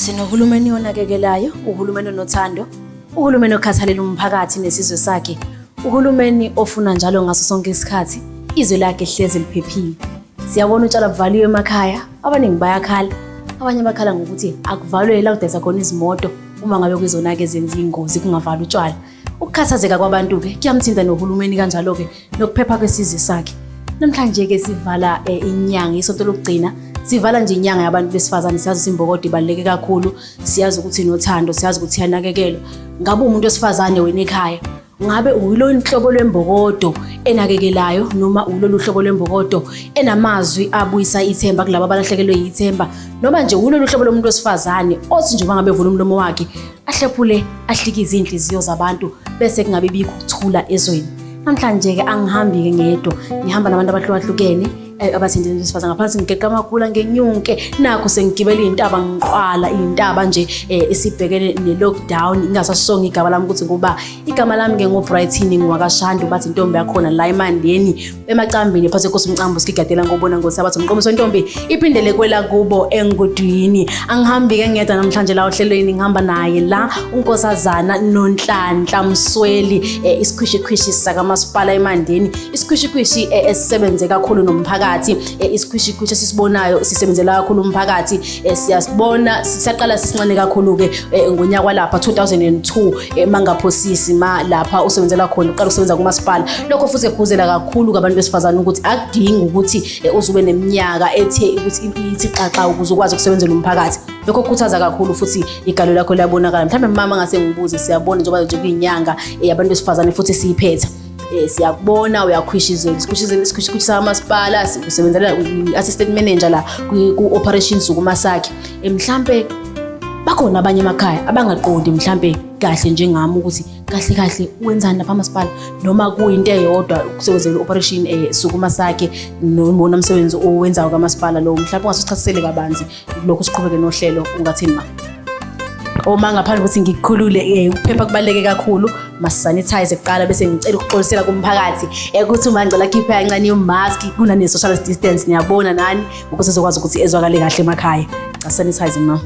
Sinohulumeni onakekelayo, uhulumeni onothando, uhulumeni okhathalela umphakathi nesizwe sakhe, uhulumeni ofuna njalo ngaso sonke isikhathi izwe lakhe hlezi liphephile. Siyabona utshwala buvaliwe emakhaya, abaningi bayakhala, abanye bakhala ngokuthi akuvalwe la kudayisa khona izimoto uma ngabe kuyizona-ke zenza iy'ngozi kungavalwa utshwala. Ukukhathazeka kwabantu-ke kuyamthinta nohulumeni kanjalo-ke nokuphepha kwesizwe sakhe. Namhlanje-ke sivala eh, inyanga isonto lokugcina sivala nje inyanga yabantu besifazane siyazi ukuthi imbokodo ibaluleke kakhulu siyazi ukuthi nothando siyazi ukuthi yanakekelwa ngabe umuntu wesifazane wena ekhaya ngabe uyilo nhlobo lwembokodo enakekelayo noma ulolu hlobo lwembokodo enamazwi abuyisa ithemba kulabo abalahlekelwe yithemba noma nje ulolu hlobo lomuntu wesifazane othi njengoba ngabe evula umlomo wakhe ahlephule ahlikize izinhliziyo zabantu bese kungabe bikho ukuthula ezweni namhlanje ke angihambi ke ngedwa ngihamba nabantu abahlukahlukene eh, abathinta intofaza ngaphansi ngigeqa amakhula ngenyunke nakho sengigibela iy'ntaba ngiqwala iy'ntaba nje um esibhekene ne-lockdown ingasasonga igama lami ukuthi ngoba igama lami-ke ngobrightini ngiwakashandi bathi intombi yakhona la emandeni emacambini phase kosi umcambo sikigadela ngobona ngosabatha umqomiso ntombi iphindele kwela kubo engudwini angihambi ke ngedwa namhlanje la ohlelweni ngihamba naye la unkosazana nonhlanhla msweli eh, isikhwishikhwishi sakamasipala emandeni isikhwishikhwishi eh, esisebenze kakhulu nomphakathi eh, isikhwishikhwishi esisibonayo sisebenzela kakhulu umphakathi Eh, siyasibona sisaqala sincane kakhulu-ke eh, ngonyaka kwalapha 2002 eh, mangaphosisi ma lapha usebenzela khona uqala ukusebenza kumasipala lokho futhi ekhuzela kakhulu kabantu besifazane ukuthi akudingi ukuthi uzube neminyaka ethe ukuthi ithi xaxa ukuze ukwazi ukusebenzela umphakathi lokho kukhuthaza kakhulu futhi igalo lakho liyabonakala mhlawumbe mama ngase ngibuze siyabona njengoba nje kuyinyanga yabantu besifazane futhi siyiphetha Eh siyakubona uyakhwishizela isikhwishizela isikhwishisa amasipala usebenzela assistant manager la ku operations kuma sakhe eh, mhlambe bakhona abanye emakhaya abangaqondi mhlambe kahle njengami ukuthi kahle kahle wenzani lapha amasipala noma kuyinto eyodwa kusebenzela operation eh sukuma sakhe noma umsebenzi owenzayo kamasipala lo mhlawumbe ungasuchasisele kabanzi lokhu siqhubeke nohlelo ungathini ma uma ngaphandle ukuthi ngikukhulule eh, ukuphepha kubaluleke kakhulu masisanitize kuqala bese ngicela ukuxolisela kumphakathi ukuthi uma ngicela khiphe kancane yomask kunane-social distance niyabona nani ukuze ezokwazi ukuthi ezwakale kahle emakhaya cha sanitize ma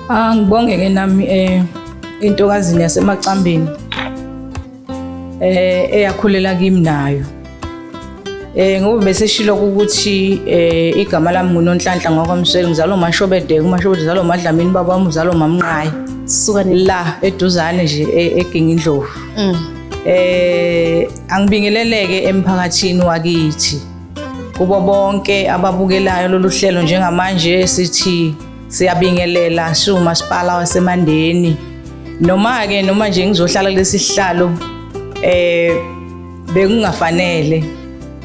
angibonge-ke ah, nami um entokazini yasemacambeni eh eyakhulela kimi nayo eh ngoba beseshilo ukuthi eh igama lami ngunonhlanhla ngokwamsweli ngizalo mashobede kumashobede zalo madlamini baba wami uzalo mamnqayi suka la eduzane nje e-, eginga indlovu mm. eh angibingeleleke emphakathini wakithi kubo bonke ababukelayo lolu hlelo njengamanje sithi Siyabingelela shu masipala waseMandeni. Noma ke noma nje ngizohlala kulesi sihlalo eh bekungafanele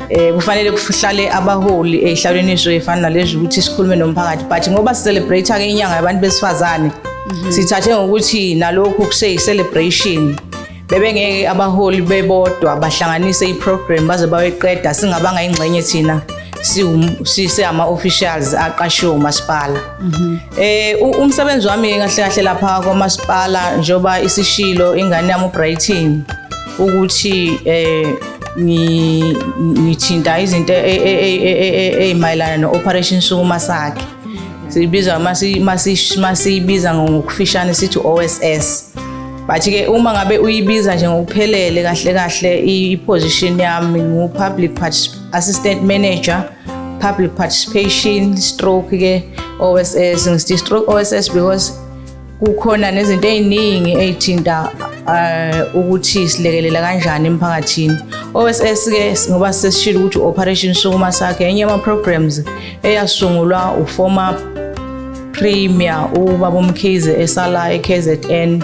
eh kufanele kuhlale abaholi ehlalweni iso efana nalezi ukuthi sikhulume nomphakathi but ngoba si celebrate ke inyanga yabantu besifazane mhm. sithathe ngokuthi nalokho kuse celebration bebengeke abaholi bebodwa bahlanganise iprogram baze baweqeda singabanga ingxenye thina siseyama-officials aqashiwe umasipala um umsebenzi wami kahle kahle lapha kwamasipala njengoba isishilo ingane yami ubrighton ukuthi um ngithinta izinto ey'mayelana no-operation sukuma sakhe siyibiza masiyibiza ngokufishane sithi o-s s but ke uma ngabe uyibiza nje ngokuphelele kahle kahle i-position yami ngu-public assistant manager public participation stroke ke oss ngithi stroke oss because kukhona nezinto ey'ningi ey'thinta eh, ukuthi silekelela kanjani emphakathini oss ke ngoba sesishile ukuthi u-operation sukuma sakhe enye ama-programs eyasungulwa u-former Premier ubaba uMkhize esala eKZN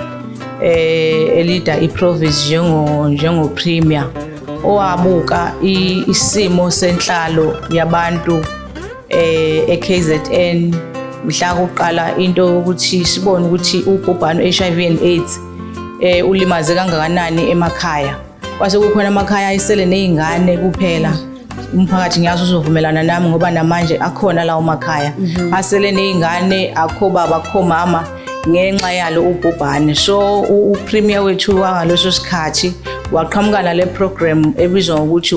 eh elida iProvince njengo njengo Premier owabuka isimo senhlalo yabantu eh eKZN mhla kuqala into ukuthi sibone ukuthi ubhubhano HIV and AIDS eh ulimaze kangakanani emakhaya Kwase kukhona amakhaya ayisele nezingane kuphela. Umphakathi ngiyazi uzovumelana nami ngoba namanje akhona lawo makhaya. Mhm. Asele nezingane akho baba akho mama ngenxa yalo ubhubhane. So upremier wethu wangaleso sikhathi waqhamukana le program ebizwa ngokuthi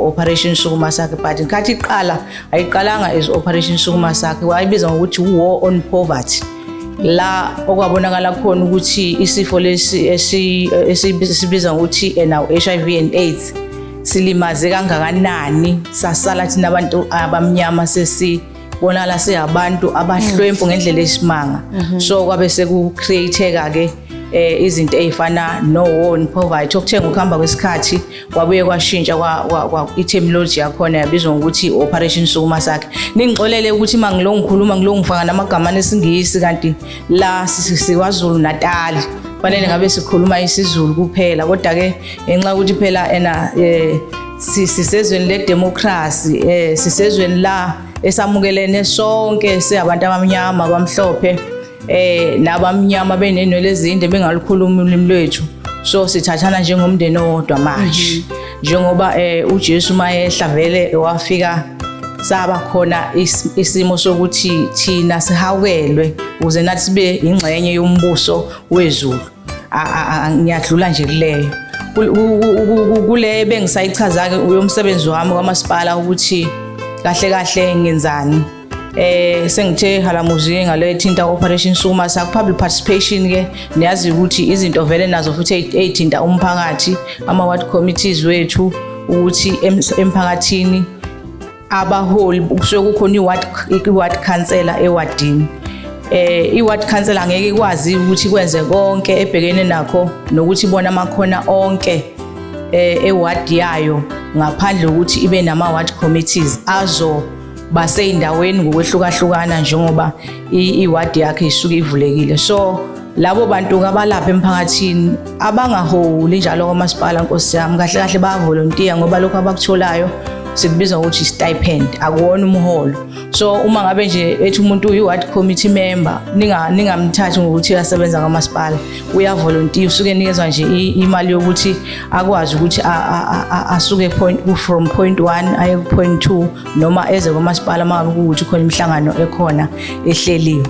Operation Sukuma Sakhe but nkathi iqala ayiqalanga as Operation Sukuma Sakhe wayibiza ngokuthi War on Poverty. la okwabonakala khona ukuthi isifo lesi esibiza ngokuthi now HIV and AIDS silimaze kangakanani sasala thina abantu abamnyama sesi bonakala siyabantu abahlwempu mm. ngendlela esimanga mm-hmm. so kwabe seku createka ke eh, izinto ezifana no war and poverty okuthenga ukuhamba kwesikhathi kwabuye kwashintsha i-terminology yakhona yabizwa ngokuthi i-operation sukuma sakhe ningixolele ukuthi uma ngilo ngikhuluma ngilo ngifaka namagamane esingisi kanti la sikwazulu natali fanele ngabe sikhuluma isizulu kuphela kodwa-ke ngenxa yokuthi phela ena um eh, sisezweni ledemokhrasi um eh, sisezweni la esamukelene sonke siyabantu abamnyama abamhlophe eh laba mnyama benenwele ezinde bengalukhuluma ulimi lwethu so sithathana njengomndeni owodwa manje mhm. njengoba eh uJesu mayehla vele wafika saba khona isimo sokuthi thina sihawelwe ukuze nathi sibe ingxenye yombuso wezulu ngiyadlula nje kuleyo kule bengisayichaza-ke uyomsebenzi wami kwamasipala ukuthi kahle kahle ngenzani eh sengithe halamuzi ngale thinta operation suma sa public participation ke niyazi ukuthi izinto vele nazo futhi ezithinta umphakathi ama ward committees wethu ukuthi emphakathini abaholi kusuke kukhona iward iward councillor ewadini eh iward councillor ngeke ikwazi ukuthi kwenze konke ebhekene nakho nokuthi bona amakhona onke eh eward yayo ngaphandle ukuthi ibe nama ward committees azo baseyindaweni ngokwehlukahlukana njengoba iwadi yakhe isuke ivulekile so labo bantu kabalapha emphakathini abangaholi njalo kwamasipala nkosi yami kahle kahle bayavolontiya ngoba lokho abakutholayo sikubiza ukuthi stipend akuwona umholo so uma ngabe nje ethi umuntu uyi-ward committee member ningamthathi ngokuthi asebenza kwamasipala uyavolontiya usuke enikezwa nje imali yokuthi akwazi ukuthi asuke from point one aye ku-point two noma eze komasipala uma ngabe kuwukuthi khona imihlangano ekhona ehleliwe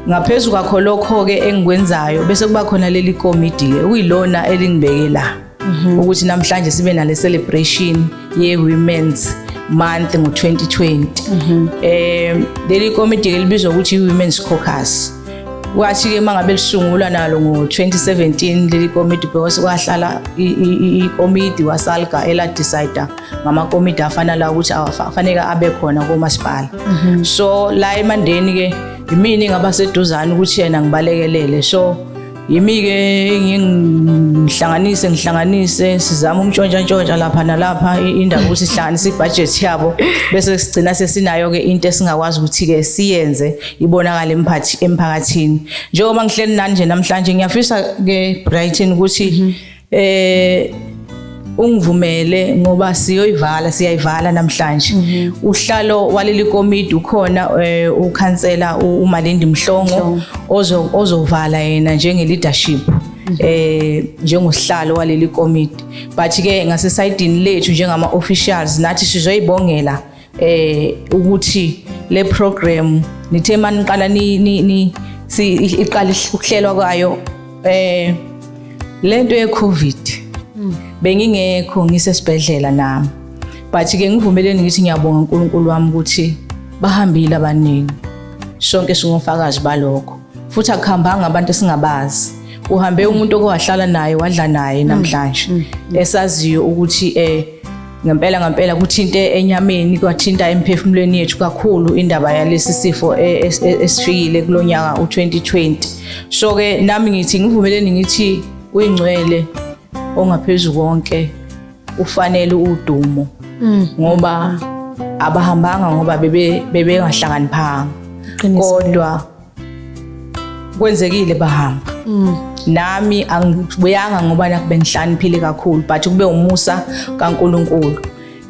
ngaphezu kwakho lokho-ke engikwenzayo bese kuba khona leli komidi-ke okuyilona elingibeke la mhm. ukuthi namhlanje sibe nale celebration ye women's month ngo-2020 mhm. eh leli komiti elibizwa ukuthi i-women's caucus kwathi-ke uma ngabe lisungulwa nalo ngo-2017 leli komiti because kwahlala ikomiti wasalga eladicida ngamakomiti afana la ukuthi afaneke abe khona komasipala mhm. so la emandeni-ke yimini ngabaseduzane ukuthi yena ngibalekelele so Yimi-ke ngihlanganise ngihlanganise sizama umntshontsha-ntshontsha lapha nalapha indaba ukuthi sihlanganise ibhajethi yabo bese sigcina sesinayo-ke into esingakwazi ukuthi-ke siyenze ibonakale emphakathini njengoba ngihleli nani nje namhlanje ngiyafisa-ke Brighton ukuthi mm -hmm. eh ungivumele ngoba siyoyivala siyayivala namhlanje mhm. uhlalo waleli komiti ukhona eh, ukhansela uMalindi Mhlongo ozovala yena njenge leadership eh njengosihlalo waleli committee but ke ngasesayidini lethu njengama officials nathi sizoyibongela eh ukuthi le program nithe maniqala ni ni si iqala ukuhlelwa kwayo eh lento ye covid hmm. bengingekho ngisesibhedlela nami but ke ngivumeleni ngithi ngiyabonga uNkulunkulu wami ukuthi bahambile abaningi sonke singofakazi balokho futhi akuhambanga abantu esingabazi uhambe umuntu okowahlala naye wadla naye hmm. namhlanje hmm. esaziyo ukuthi eh Ngempela ngempela kuthinte enyameni kwathinta emphefumulweni yethu kakhulu indaba yalesi sifo e, e, e, esifikile kulonyaka u2020. So ke nami ngithi ngivumeleni ngithi uyingcwele ongaphezulu konke ufanele udumo mm. ngoba abahambanga ngoba bebe bebengahlakaniphanga kodwa kwenzekile bahamba mm. nami angibuyanga ngoba nakube ngihlaniphile kakhulu but kube umusa kaNkuluNkulu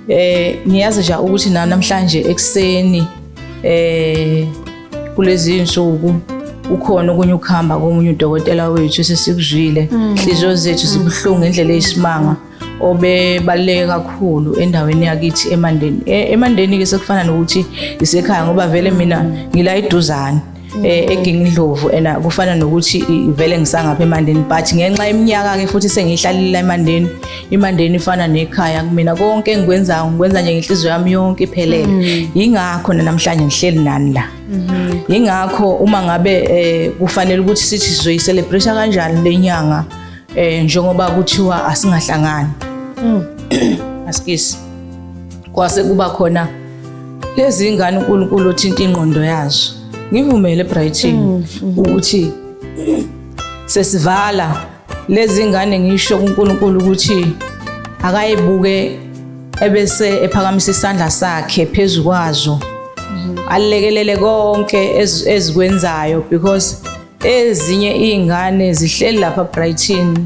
eh ngiyazi nje ukuthi na namhlanje ekseni eh kulezi insuku ukhona okunye ukuhamba komunye udokotela wethu sesikuzwile inhliziyo mm. zethu zibuhlungu ngendlela eyisimanga obebaluleke kakhulu endaweni yakithi emandeni e, emandeni ke sekufana nokuthi isekhaya ngoba vele mina ngila eduzane eh mm. egingindlovu and kufana nokuthi vele ngisangapha emandeni but ngenxa yeminyaka ke futhi sengihlalile emandeni imandeni ifana nekhaya kumina konke engikwenzayo ngikwenza nje ngenhliziyo yami yonke iphelele mm. yingakho namhlanje ngihleli nani la mm-hmm. yingakho uma ngabe eh, kufanele ukuthi sithi sizoyicelebrate kanjani lenyanga eh njengoba kuthiwa asingahlangani mm. asikisi kwase kuba khona lezi ngane uNkulunkulu othinta ingqondo yazo ngivumele Brighton mm, mm. ukuthi sesivala lezi ngane ngisho kuNkulunkulu ukuthi akayibuke ebese ephakamisa isandla sakhe phezulu kwazo mm-hmm. alekelele konke ezikwenzayo because ezinye iy'ngane zihleli lapha brighton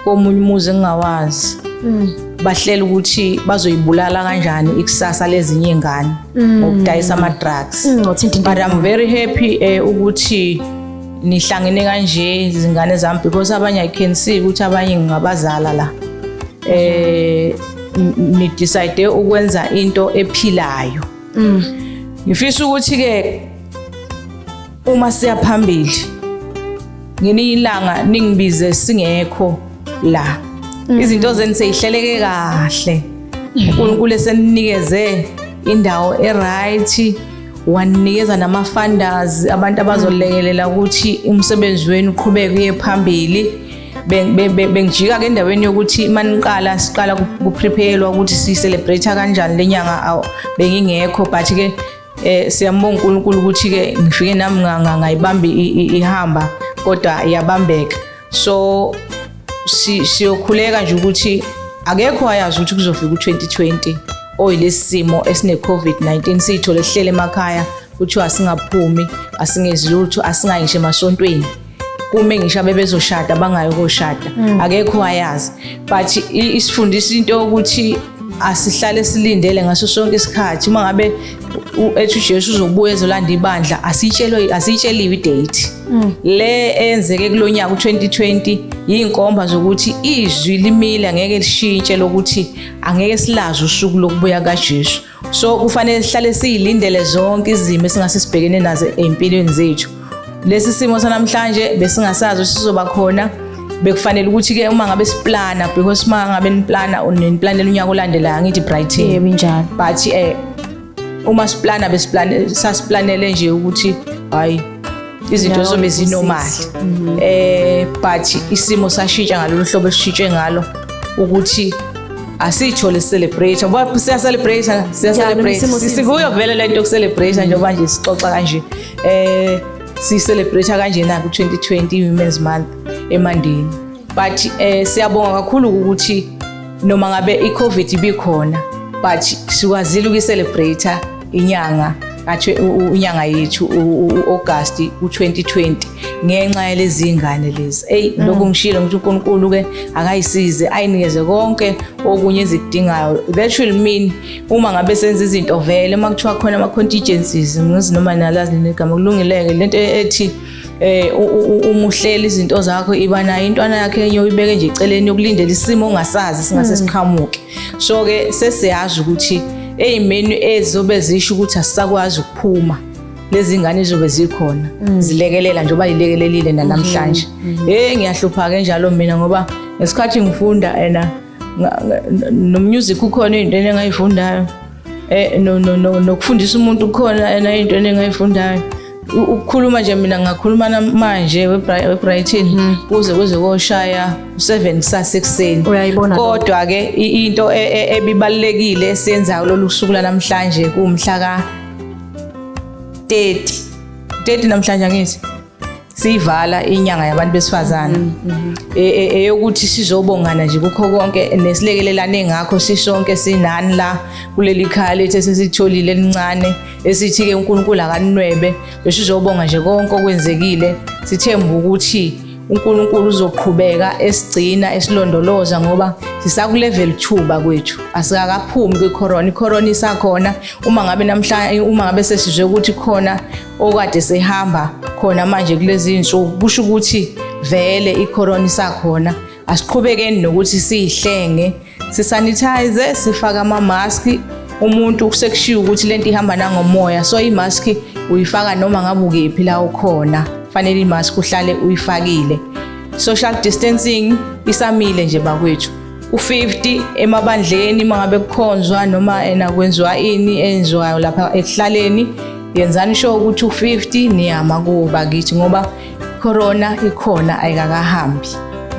komunye umuzi engingawazi mm. bahlela ukuthi bazoyibulala kanjani ikusasa lezinye iy'ngane mm. ngokudayisa ama-drugs mm, but i'm very happy eh, ukuthi nihlangene kanje izingane zami because abanye i can see ukuthi abanye ngingabazala la eh nidecide ukwenza into ephilayo ngifisa ukuthi ke Uma siya phambili ngelinye ilanga ningibize singekho la mm. izinto zenu seyihleleke kahle uNkulunkulu eseninikeze indawo eright waninikeza nama-funders abantu abazolekelela ukuthi umsebenzi wenu uqhubeke uye phambili bengijika ke endaweni yokuthi maniqala siqala kuprepayelwa ukuthi si-celebrate kanjani le nyanga bengingekho but-ke Eh siyambonga uNkulunkulu ukuthi ke ngifike nami ngayibamba ihamba kodwa iyabambeka. So siyokhuleka nje ukuthi akekho wayazi ukuthi kuzofika u-2020 oyilesi simo esine-covid-19 siyithole sihlele emakhaya kuthiwa asingaphumi asingezi lutho asingayi ngisho emasontweni kume ngisho abebezoshada bangayo koshada mm. akekho wayazi but isifundisa into yokuthi asihlale silindele ngaso sonke isikhathi uma ngabe ethi uJesu uzobuya ezolanda ibandla asitshelwe asitsheliwe idate mm. le enzeke kulonyaka u2020 yinkomba zokuthi izwi limile ngeke lishintshe lokuthi angeke silazi usuku lokubuya kaJesu so kufanele sihlale siyilindele zonke izimo esingase sibhekene nazo empilweni zethu lesi simo sanamhlanje besingasazi ukuthi sizoba khona bekufanele ukuthi ke uma ngabe siplana because uma ngabe niplana uniplanela unyaka olandelayo ngithi brighton yebo njalo but eh uma siplana besiplane sasiplanele nje ukuthi hayi izinto zobe zinomali mhm. eh but isimo sashintsha ngalolu hlobo esishintshe ngalo ukuthi asitsho le celebrate ngoba siya celebrate siya celebrate sikuyo vele lento yoku celebrate njengoba nje sixoxa kanje eh si celebrate kanje na ku 2020 women's month emandeni but eh siyabonga kakhulu ukuthi noma ngabe i-covid ibikhona but sikwazile ukuyi-celebrate inyanga unyanga yethu u-august u-2020 ngenxa yalezi ngane lezi eyi mm. lokhu ngishilo ngithi unkulunkulu-ke akayisize ayinikeze konke okunye ezikudingayo that will mean uma ngabe senza izinto vele uma kuthiwa khona ama-contingencies ngizi noma nalazini igama kulungileke lento e-, ethi eh umuhleli izinto zakho iba nayo intwana yakhe enye uyibeke nje eceleni yokulindela isimo ongasazi singase mm. siqhamuke so ke sesiyazi ukuthi ezimenu ezizobe zisho ukuthi asisakwazi ukuphuma lezi ngane zobe zikhona mm. zilekelela nje uba yilekelelile nanamhlanje mm-hmm. Mm-hmm. hey ngiyahlupha ke njalo mina ngoba ngesikhathi ngifunda ena nommusic ukhona into engayifundayo eh no no no nokufundisa umuntu kukhona ena into enengayifundayo ukukhuluma nje mina ngakhuluma namanje webrighton mhm. kuze kuze koshaya u-7 kusasa ekuseni kodwa-ke into e, e, ebibalulekile esiyenzayo lolu suku lanamhlanje kuwumhla ka-30 30 namhlanje angithi siyivala inyanga yabantu besifazane mm, mm. E, e, eyokuthi sizobongana nje kukho konke nesilekelelane ngakho sisonke sinani la kuleli khaya lethu esesitholile elincane esithi-ke unkulunkulu akanwebe besizobonga nje konke okwenzekile sithemba ukuthi unkulunkulu uzoqhubeka esigcina esilondoloza ngoba sisakulevel two bakwethu asikakaphumi kwicorona icorona isakhona uma ngabe namhlanje uma ngabe sesizwe ukuthi khona okade sehamba khona manje kulezi insuku kusho ukuthi vele icorona isakhona asiqhubekeni nokuthi siyihlenge sisanitize sifake ama-mask umuntu kusekushiwo ukuthi lento ihamba nangomoya so i-mask uyifaka noma ngabe ukephi la ukhona fanele i-mask uhlale uyifakile social distancing isamile nje bakwethu u-50 emabandleni mangabe kukhonzwa noma ena kwenziwa ini enziwayo lapha ekuhlaleni yenzani sho ukuthi u-50 niyama kuwo bakithi ngoba corona ikhona ayikakahambi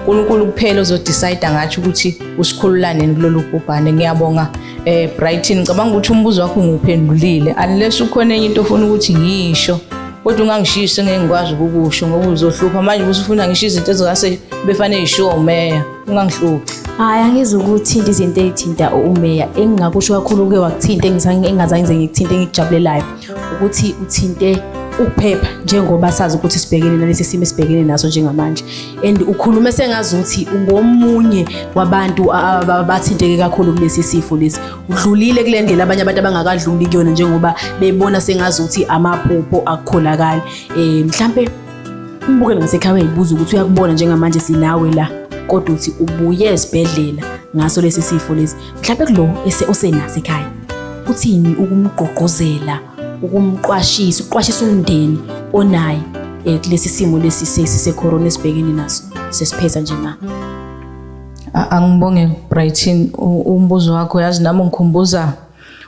uNkulunkulu kuphela ozodecide ngathi ukuthi usikhululaneni kulolu bhubhane ngiyabonga eh Brighton ngicabanga ukuthi umbuzo wakho nguphendulile unless ukhona enye into ofuna ukuthi ngisho kodwa ungangishisi ngeke ngikwazi ukukusho ngoba uzohlupha manje usufuna ngisho izinto ezingase befanele ishiwo meya ungangihluphi hayi angizi ukuthinta izinto ey'thinta umeya engingakusho kakhulu uke wakuthinta engingazange ngize ngikuthinte engikujabulelayo ukuthi uthinte ukuphepha njengoba sazi ukuthi sibhekene nalesi simo esibhekene naso njengamanje and ukhulume sengazi ukuthi ungomunye wabantu abathinteke kakhulu kulesi sifo lesi udlulile kule ndlela abanye abantu abangakadluli kuyona njengoba bebona sengazi ukuthi amaphupho akukholakali um mhlampe Umbuke lo msekhaya uyayibuza ukuthi uyakubona njengamanje sinawe la kodwa uthi ubuye esibhedlela ngaso lesi sifo lesi mhlawumbe kulo ese osenaso ekhaya uthini ukumgqogqozela ukumqwashisa uqwashisa umndeni onaye eh, kulesi simo lesi sesi secorona esibhekene naso sesipheza nje na A- angibonge Brighton u- umbuzo wakho yazi nami ngikhumbuza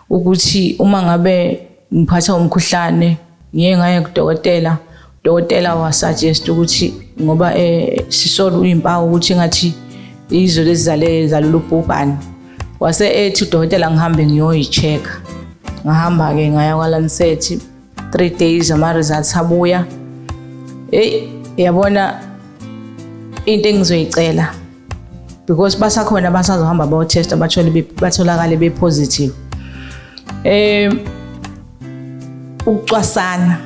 ukuthi uma ngabe ngiphatha umkhuhlane ngiye ngaye kudokotela udokotela wasuggest ukuthi ngoba eh, sisola uyimpawu ukuthi ngathi izo lezizale zalolu bhubhane wase ethi udokotela ngihambe ngiyoyi-check-a ngahamba-ke ngaya kwa-lancet three days ama-results abuya eyi yabona into engizoyicela because basakhona abasazohamba bayothesta bathole batholakale bepositive eh ukucwasana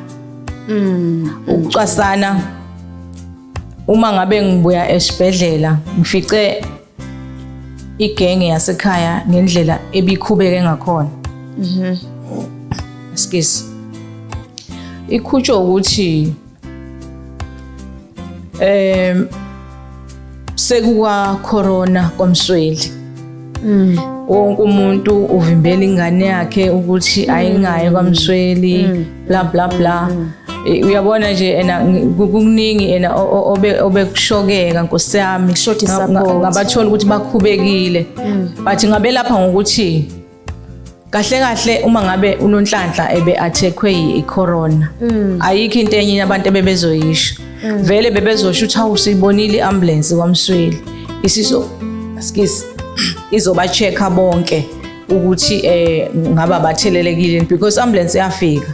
mm ukucwasana uma ngabe ngibuya esibhedlela ngifice igenge yasekhaya ngendlela ebikhubeke ngakhona mhm excuse ikhutshwa ukuthi um sekuka corona kwamsweli mm. wonke umuntu uvimbela ingane yakhe ukuthi mm. ayingaye kwamsweli mm. bla bla bla mm. E, uyabona nje ena kukuningi ena obekushokeka nkosi yami ngabathola ukuthi bakhubekile mm. but ngabelapha ngokuthi kahle kahle uma ngabe unonhlanhla ebe athekwe yicorona mm. ayikho into enye abantu ebebezoyisho mm. vele bebezosho ukuthi hawu siyibonile iambulance kwamsweli isiso skis izoba checker bonke ukuthi eh ngaba bathelelekile because ambulance yafika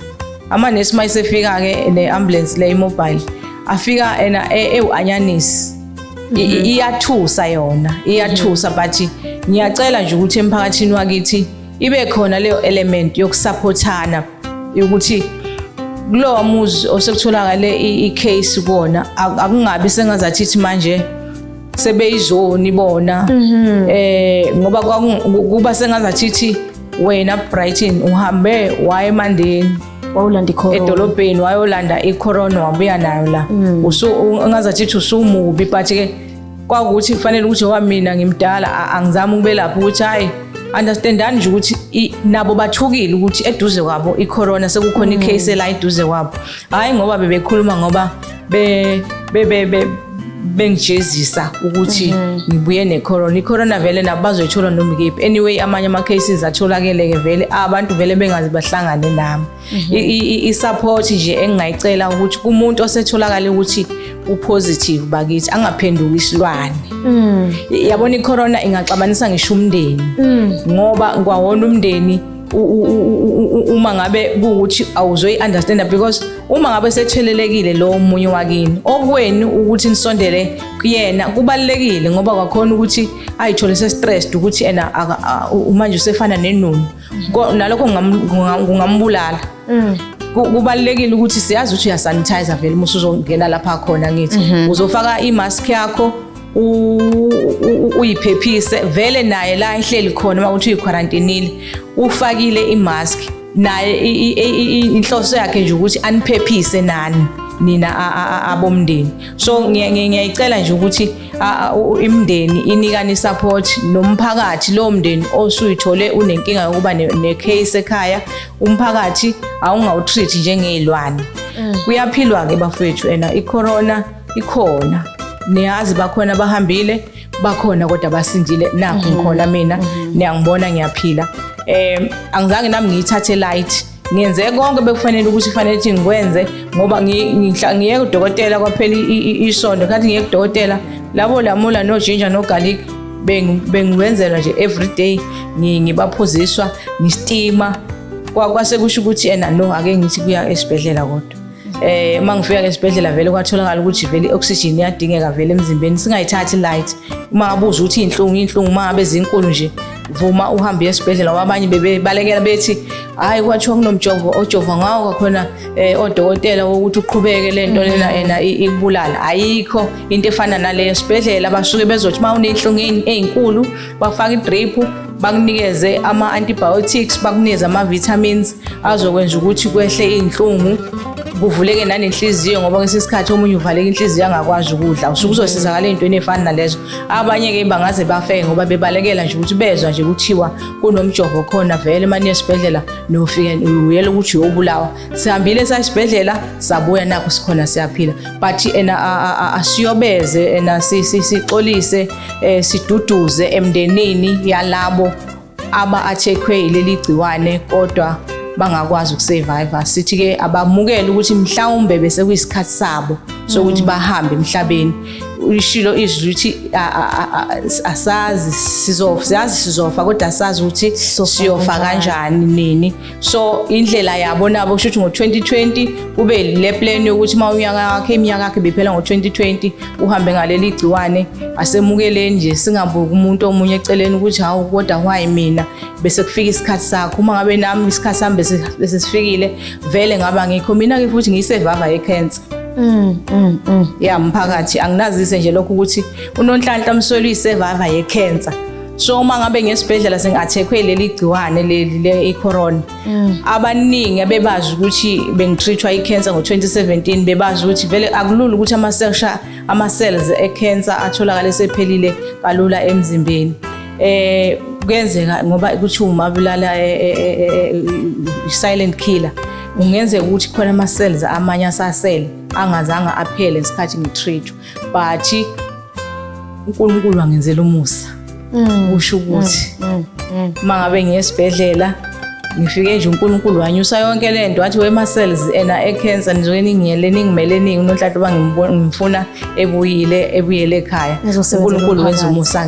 ama nesi mayisefika ke le ambulance le mobile afika ena ewu anyanisi Mhm. iyathusa yona iyathusa mhm. but ngiyacela nje ukuthi emphakathini wakithi ibe khona leyo element yokusaphothana ukuthi kulowa muzi osekutholakale i-case kuwona akungabi sengazathi ithi manje sebeyizoni bona mhm. eh ngoba kuba sengazathi ithi wena Brighton uhambe waye emandeni wawulanda ikhorona edolobheni wayolanda ikhorona wabuya nayo la mm. ungazathi uthi usumubi but ke kwakuthi kufanele ukuthi owa mina ngimdala angizami ukubelapha ukuthi hhayi understandani nje ukuthi nabo bathukile ukuthi eduze kwabo icorona sekukhona mm. icase la eduze kwabo hhayi ngoba bebekhuluma ngoba be be be, be bengijezisa ukuthi mhm. ngibuye necorona icorona vele nabo bazoyithola noma ikephi anyway amanye ama-cases atholakele-ke vele abantu vele bengazi bahlangane nami mhm. i-support nje engingayicela ukuthi kumuntu osetholakale ukuthi upositive bakithi angaphenduki isilwane mm. yabona icorona ingaxabanisa ngisho umndeni mm. ngoba kwawona umndeni uma ngabe kuwukuthi awuzoyi-understanda because uma ngabe sethelelekile lowo munye wakini okwenu ukuthi nisondele kuyena kubalulekile ngoba kwakhona ukuthi ayithole se-stressed ukuthi ena manje usefana nenunu nalokho kungambulala mm. kubalulekile ukuthi siyazi ukuthi uyasanitizer vele uma usuzongena lapha khona ngithi mhm. uzofaka i-mask yakho uyiphephise vele naye la ehleli khona uma uthi uyikwarantinile ufakile imask naye inhloso yakhe nje ukuthi aniphephise nani nina abomndeni so ngiyayicela nje ukuthi imndeni inikane isupport nomphakathi lo mndeni osuyithole unenkinga yokuba necase ekhaya umphakathi awungawutreat njengezilwane mm. kuyaphilwa ke bafethu ena icorona ikhona niyazi bakhona bahambile bakhona kodwa basindile nakho mhm. ngikhona mina mhm. niyangibona ngiyaphila um angizange nami ngiyithathe light ngenze konke bekufanele ukuthi kufanele ukuthi ngikwenze ngoba ngiye kudokotela kwaphela isonto khathi ngiye kudokotela labo lamula nojinja nogarlic bengiwenzela nje everyday ngibaphuziswa ngistima kwase kusho ukuthi yena no ake ngithi kuya esibhedlela kodwa eh uma ngifika ke esibhedlela vele kwatholakala ukuthi vele i-oxygen iyadingeka vele emzimbeni singayithathi light uma ngabe uze uthi inhlungu inhlungu uma ngabe zinkulu nje vuma uhambe esibhedlela wabanye bebebalekela bethi hayi kwathiwa kunomjovo ojova ngawo kakhona eh, odokotela wokuthi uqhubeke le nto lena mm-hmm. ena ikubulala ayikho into efana naleyo esibhedlela basuke bezothi uma unenhlungu ey'nkulu bakufaka i-drip bakunikeze ama-antibiotics bakunikeze ama-vitamins azokwenza ukuthi kwehle iy'nhlungu kuvuleke nanenhliziyo ngoba kwesinye isikhathi omunye uvaleka inhliziyo angakwazi ukudla usuke uzosizakala ey'ntweni ey'fana nalezo abanye-ke bangaze bafeke ngoba bebalekela nje ukuthi bezwa nje kuthiwa kunomjovo khona vele mane esibhedlela nofike uyela ukuthi uyobulawa sihambile sasibhedlela sabuya nakho sikhona siyaphila but ena asiyobeze ena sixolise eh, siduduze emndenini yalabo aba acheckwe yileli gciwane kodwa bangakwazi ukusurvive sithi ke abamukele ukuthi mhlawumbe bese kuyisikhathi sabo sokuthi mm. bahambe emhlabeni ishilo izwi lithi asazi sizofa siyazi sizofa kodwa asazi ukuthi siyofa kanjani nini so indlela yabo nabo kusho ukuthi ngo-2020 kube le plan yokuthi uma unyaka wakhe iminyaka yakhe biphela ngo-2020 uhambe ngaleli gciwane asemukeleni nje singabuki umuntu omunye eceleni ukuthi hawu kodwa why mina bese kufika isikhathi sakho uma ngabe nami isikhathi sami bese sifikile vele ngaba ngikho mina-ke futhi ngiyisevava yekhensa Mm, mm, mm. ya mphakathi anginazise nje lokho ukuthi unonhlanhla msweli uyisevava yekhensa so uma ngabe ngesibhedlela sengathekwe leli gciwane leli le icorona mm. abaningi abebazi ukuthi bengitreatwa icancer ngo2017 bebazi ukuthi vele akulula ukuthi ama cells ama cells ecancer atholakala sephelile kalula emzimbeni eh kuyenzeka ngoba ukuthi uma bulala eh, eh, eh, silent killer ungenzeka ukuthi khona ama cells amanye asasele angazange aphele ngesikhathi ngitreatwa bhathi uNkulunkulu wangenzela umusa mm. usho ukuthi mm, mm, mm. mangabe ngiyesibhedlela ngifike nje uNkulunkulu wanyusa yonke le nto wathi wema cells ena ecancer nizoke ningiyele ningimele ningi unonhlanhla uba ngimfuna ebuyile ebuyele ekhaya uNkulunkulu wenza umusa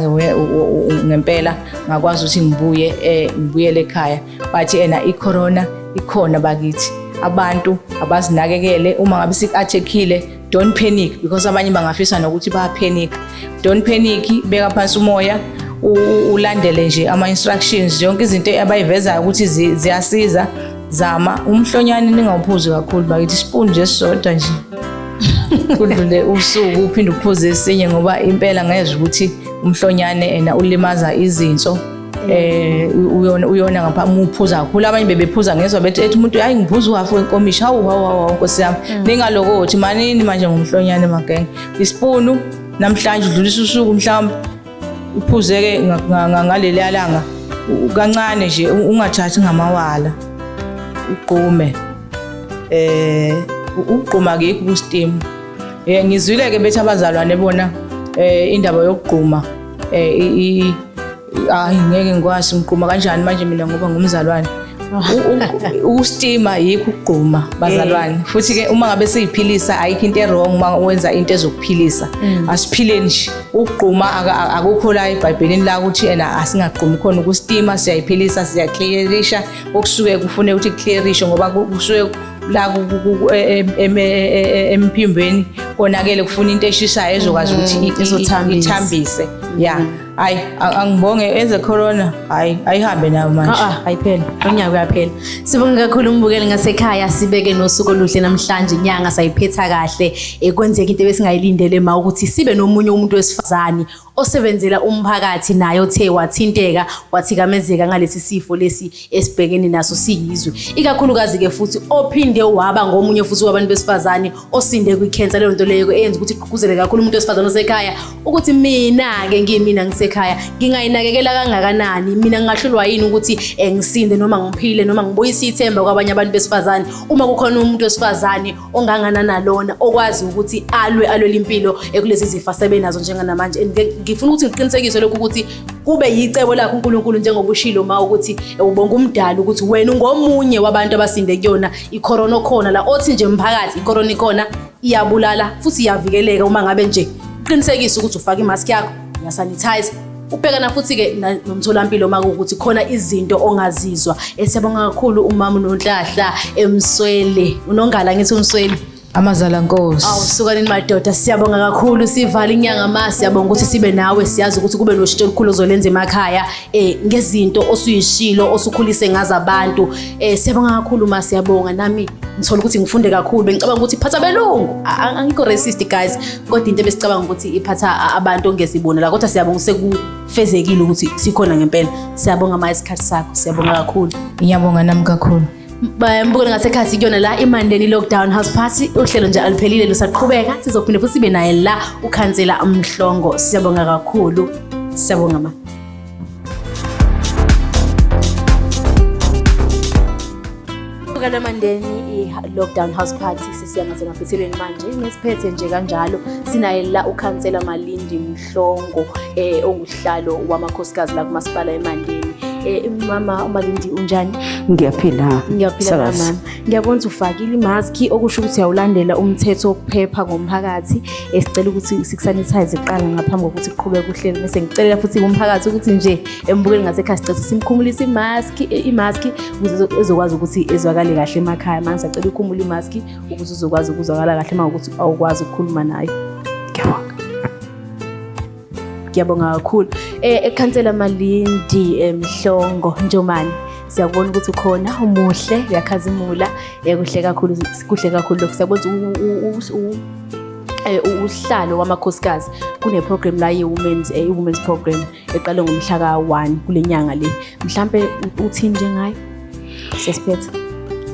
ngempela ngakwazi ukuthi ngibuye eh, ngibuyele ekhaya bathi ena icorona ikhona bakithi abantu abazinakekele uma ngabe sikathekile don't panic because abanye bangafisa nokuthi ba panic don't panic beka phansi umoya ulandele nje ama instructions yonke izinto abayivezayo ukuthi ziyasiza zama umhlonyane ningawuphuzi kakhulu bakithi spoon nje sisodwa nje kudlule usuku uphinde uphuze esinye ngoba impela ngezwe ukuthi umhlonyane ena ulimaza izinso eh uyona uyona ngapha muphuza kakhulu abanye bebephuza ngezwa bethi ethi umuntu hayi ngiphuza uhafu wenkomishi hawu hawu hawu nkosi yami mm. ningalokothi manini manje ngomhlonyane magenge isipunu namhlanje udlulisa usuku mhlawumbe uphuzeke ngaleli alanga kancane nje ungathathi ngamawala uqume eh ukugquma ke ku steam eh ngizwile ke bethi abazalwane bona eh indaba yokugquma eh hayi ngeke ngikwazi ngigquma kanjani manje mina ngoba ngumzalwane ukustima yikho ukugquma bazalwane eh. futhi ke uma ngabe siyiphilisa ayikho into erong uma wenza into ezokuphilisa mm. asiphile nje ukugquma akukho la ebhayibhelini la ukuthi yena asingagqumi khona ukustima siyayiphilisa siyaclearisha okusuke kufuneka ukuthi kuclearishe ngoba kusuke la emphimbeni konakele kufuna into eshisayo ezokwazi mm, ukuthi ithambise ya mm. hayi angibonge eze corona hayi ayihambe nayo manje ah, ah, ayiphela unyaka uyaphela sibonge kakhulu umbukeli ngasekhaya sibeke nosuku oluhle namhlanje inyanga sayiphetha kahle ekwenzeka into ebesingayilindele ma ukuthi sibe nomunye umuntu wesifazane osebenzela umphakathi naye othe wathinteka wathikamezeka ngalesi sifo lesi esibhekene naso siyizwe ikakhulukazi-ke futhi ophinde waba ngomunye futhi wabantu besifazane osinde kwikhensa leyo nto leyo eyenza ukuthi igqugquzele kakhulu umuntu wesifazane osekhaya ukuthi mina-ke ngiyimina ngisekhaya ngingayinakekela kangakanani mina ngingahlulwa yini ukuthi um ngisinde noma ngiphile noma ngibuyise ithemba kwabanye abantu besifazane uma kukhona umuntu wesifazane ongangana nalona okwazi ukuthi alwe alwele impilo ekulezi zifo asebenazo njenganamanje and ngifuna ukuthi ngiqinisekise lokhu ukuthi kube yicebo lakho uNkulunkulu njengoba ushilo ma ukuthi ubonga umdala ukuthi wena ungomunye wabantu abasinde kuyona icorona okhona la othi nje mphakathi icorona ikona iyabulala futhi iyavikeleka uma ngabe nje qinisekisa ukuthi ufaka imask yakho ngiyasanitize ubhekana futhi-ke nomtholampilo uma kuwukuthi khona izinto ongazizwa esiyabonga kakhulu umama unonhlahla emswele unongala ngithi umswele amazala nkosi awusukanini madoda siyabonga kakhulu sivala inyanga ma siyabonga ukuthi sibe nawe siyazi ukuthi kube noshintsho olukhulu ozolenza emakhaya um ngezinto osuyishilo osukhulise ngazo abantu um siyabonga kakhulu ma siyabonga nami ngithola ukuthi ngifunde kakhulu bengicabanga ukuthi phatha belungu angikho racist guys kodwa into ebesicabanga ukuthi iphatha abantu ongesibonela kodwa siyabonga sekufezekile ukuthi sikhona ngempela siyabonga ma isikhathi sakho siyabonga kakhulu ngiyabonga nami kakhulu bayambukela ngasekhathi kuyona la imandeni lockdown house party uhlelo nje aluphelile lusaqhubeka sizophinde futhi sibe naye la ukhansela mhlongo siyabonga kakhulu siyabonga ma Bukana Mandeni i-Lockdown House Party sisiya ngasemaphethelweni manje ngesiphethe nje kanjalo sinaye la ukhansela Malindi Mhlongo eh onguhlalo wamakhosikazi la kumasipala eMandeni eh mama uMalindi unjani ngiyaphila Ngiyaphila, sakazi. mama. Ngiyabona ukuthi ufakile imaski okusho ukuthi uyawulandela umthetho wokuphepha ngomphakathi esicela ukuthi sikusanitize kuqala ngaphambi kokuthi kuqhubeke uhlelo bese ngicelela futhi umphakathi ukuthi nje embukeli ngasekhaya sicela simkhumulise imaski imaski ukuze ezokwazi ukuthi ezwakale kahle emakhaya manje sacela ukhumule imaski ukuze uzokwazi ukuzwakala kahle uma ukuthi awukwazi ukukhuluma nayo. Ngiyabonga. Ngiyabonga kakhulu. Eh ekhansela Malindi eMhlongo eh, Njomani. Siyakubona ukuthi ukhona umuhle uyakhazimula eh, kuhle kakhulu kuhle kakhulu lokho siyabona eh, usihlalo wamakhosikazi kuneprogram la ye-women's eh, women's program eqale ngomhla ka-1 kule nyanga le mhlampe uthini njengayo sesiphethe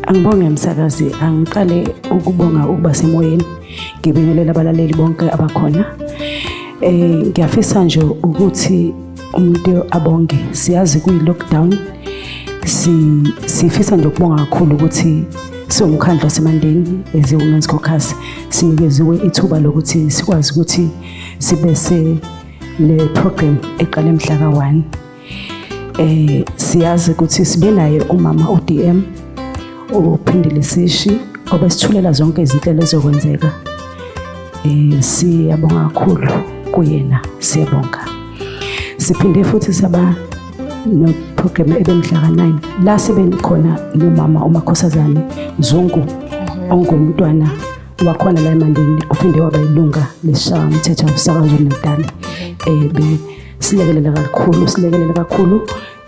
angibonge msakazi angiqale ukubonga ukuba semoyeni ngibingelela abalaleli bonke abakhona eh ngiyafisa nje ukuthi umuntu abonge siyazi kuyi lockdown si sifisa nje ukubonga kakhulu ukuthi siwumkhandlu wasemandeni as women's caucus sinikeziwe ithuba lokuthi sikwazi ukuthi sibe se le program eqale mhla ka-1 eh siyazi ukuthi sibe naye umama uDM uphindile sishi obesithulela zonke izinhlelo ezokwenzeka eh siyabonga kakhulu kuyena siyabonga siphinde futhi saba no program ebemhla ka9 la sebengikhona nomama umakhosazane Zungu mhm. ongumntwana wakhona la eMandeni uphinde waba ilunga leshawa umthetho wasakazwe eMandeni eh silekelela kakhulu silekelela kakhulu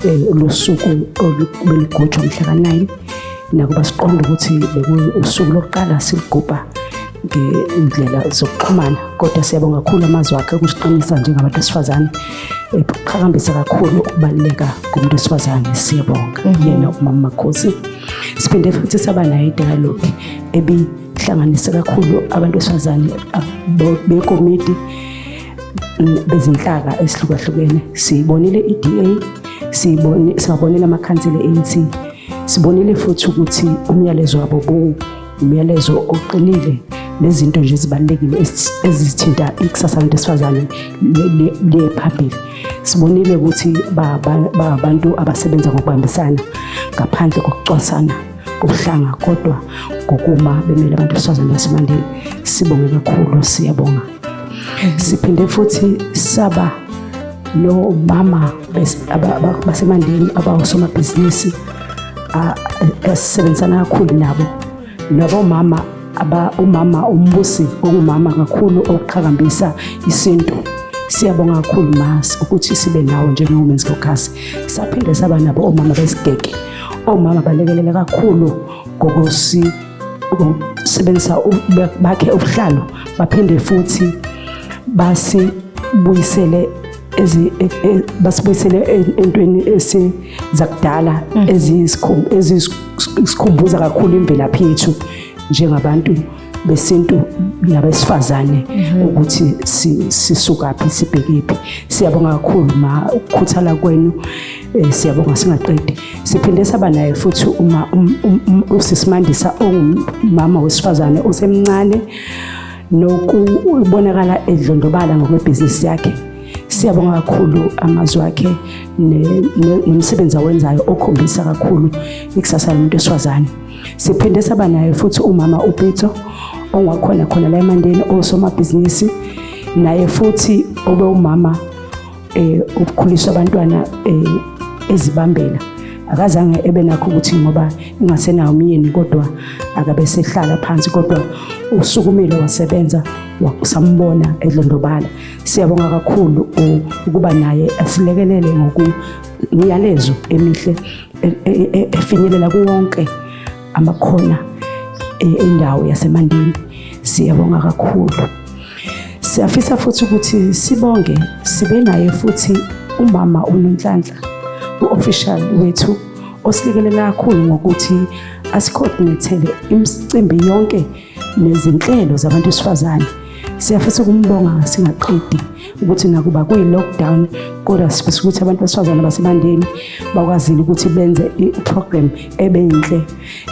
eh, losuku olubelugujwa mhla ka-9 nakuba siqonda ukuthi bekuwusuku lokuqala silugubha ngey'ndlela zokuxhumana kodwa siyabonga kakhulu amazwi akhe ukusiqinisa njengabantu besifazane eqhakambisa kakhulu ukubaluleka komuntu wesifazane siyabonga mhm. yena umama makhosi siphinde futhi saba nayo idayalogi ebihlanganise kakhulu abantu besifazane bekomiti bezinhlaka esihlukahlukene siyibonile i-DA siyibone siwabonile amakhansela e-ANC sibonile futhi ukuthi umyalezo wabo bu umyalezo oqinile nezinto nje ezibalulekile ezithinta ikusasa labantu besifazane liye phambili sibonile ukuthi babantu abasebenza ngokubambisana ngaphandle kokucwasana kuhlanga kodwa ngokuma bemele abantu besifazane basemandeni sibonge kakhulu siyabonga siphinde futhi saba nomama basemandeni abawusomabhizinisi esisebenzisana kakhulu nabo nabomama umama umbusi ongumama kakhulu oqhakambisa isintu siyabonga kakhulu mas ukuthi sibe nawo njengo-women's caucus saphinde saba nabo omama besigege Omama balekelele kakhulu ngokusi ukusebenzisa bakhe ubuhlalo baphinde futhi basibuyisele e, e, basibuyisele entweni esizakudala mm. ezisikhumbuza kakhulu imvelaphi yethu njengabantu besintu nabesifazane mhm. ukuthi sisukaphi sibhekephi siyabonga kakhulu ma ukukhuthala kwenu eh, siyabonga singaqedi siphinde saba naye futhi uma um, um, um, usisimandisa ongumama wesifazane osemncane nokubonakala edlondobala ngokwebhizinisi yakhe siyabonga kakhulu amazwi akhe nomsebenzi awenzayo okhombisa kakhulu ikusasa lomuntu esifazane Siphinde saba naye futhi umama uPitso ongakhona khona la eMandeni osomabhizinisi naye futhi obe umama eh ukukhulisa abantwana eh ezibambela akazange ebe nakho ukuthi ngoba ingasenawo umyeni kodwa akabe sehlala phansi kodwa usukumile wasebenza wakusambona edlondobala siyabonga kakhulu ukuba naye asilekelele ngoku Ngiyalezo emihle e, e, e, efinyelela kuwonke amakhona endawo yaseMandeni. Siyabonga kakhulu. Siyafisa futhi ukuthi sibonge sibe naye futhi umama uNonhlanhla u-official wethu osilikelele kakhulu ngokuthi asicoordinate imicimbi yonke nezinhlelo zabantu besifazane siyafisa ukumbonga singaqedi ukuthi nakuba kuyi-lockdown kodwa sifisa ukuthi abantu besifazane basebandeni bakwazile ukuthi benze i-program ebenhle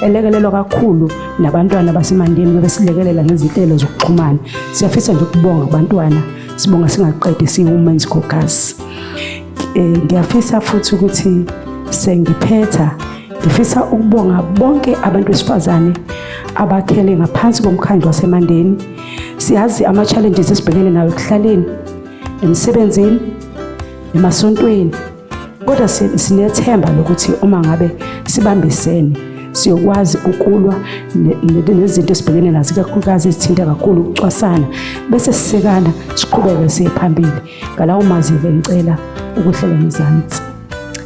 elekelelwa kakhulu nabantwana basemandeni bebesilekelela ngezinhlelo zokuxhumana siyafisa nje ukubonga abantwana sibonga singaqedi siyi-women's caucus Eh, ngiyafisa futhi ukuthi sengiphetha ngifisa ukubonga bonke abantu besifazane abakhele ngaphansi komkhandlu wasemandeni siyazi ama-challenges esibhekene nawo ekuhlaleni emsebenzini emasontweni kodwa sinethemba lokuthi uma ngabe sibambisene siyokwazi ukulwa nezinto esibhekene nazo ikakhulukazi ezithinta kakhulu ukucwasana bese sisekana siqhubeke siye phambili ngalawo mazwi bengicela ukuhlala ngezansi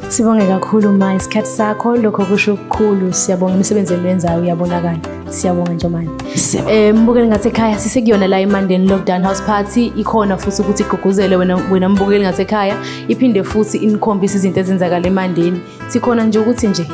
sibonge kakhulu ma isikhathi sakho lokho kusho ukukhulu siyabonga imisebenzi eniwenzayo uyabonakala siyabonga njomane um eh, mbukeli ngasekhaya sisekuyona la emandeni lockdown house party ikhona futhi ukuthi igqugquzele wena mbukeli ngasekhaya iphinde futhi inikhombise izinto ezenzakala emandeni sikhona nje ukuthi nje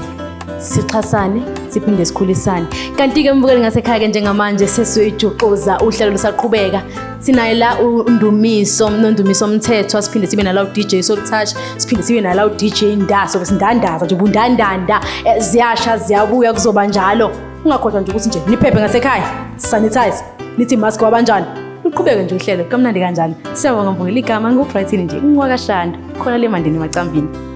sixhasane siphinde sikhulisane kanti-ke umbukeli ngasekhaya-ke njengamanje sesiyoyijuxuza uhlelo lusaqhubeka sinaye la undumiso nondumiso mthethwa siphinde sibe nala udj soltouch siphinde sibe nala udj ndaso besindandaza nje bundandanda eh, ziyasha ziyabuya kuzoba njalo ungakhohlwa nje ukuthi nje niphephe ngasekhaya sanitize nithi mask wabanjani luqhubeke nje uhlelo kamnandi kanjani siyabonga mbukela igama ngikubrightini nje ngiwakashanda khona le mandini emacambini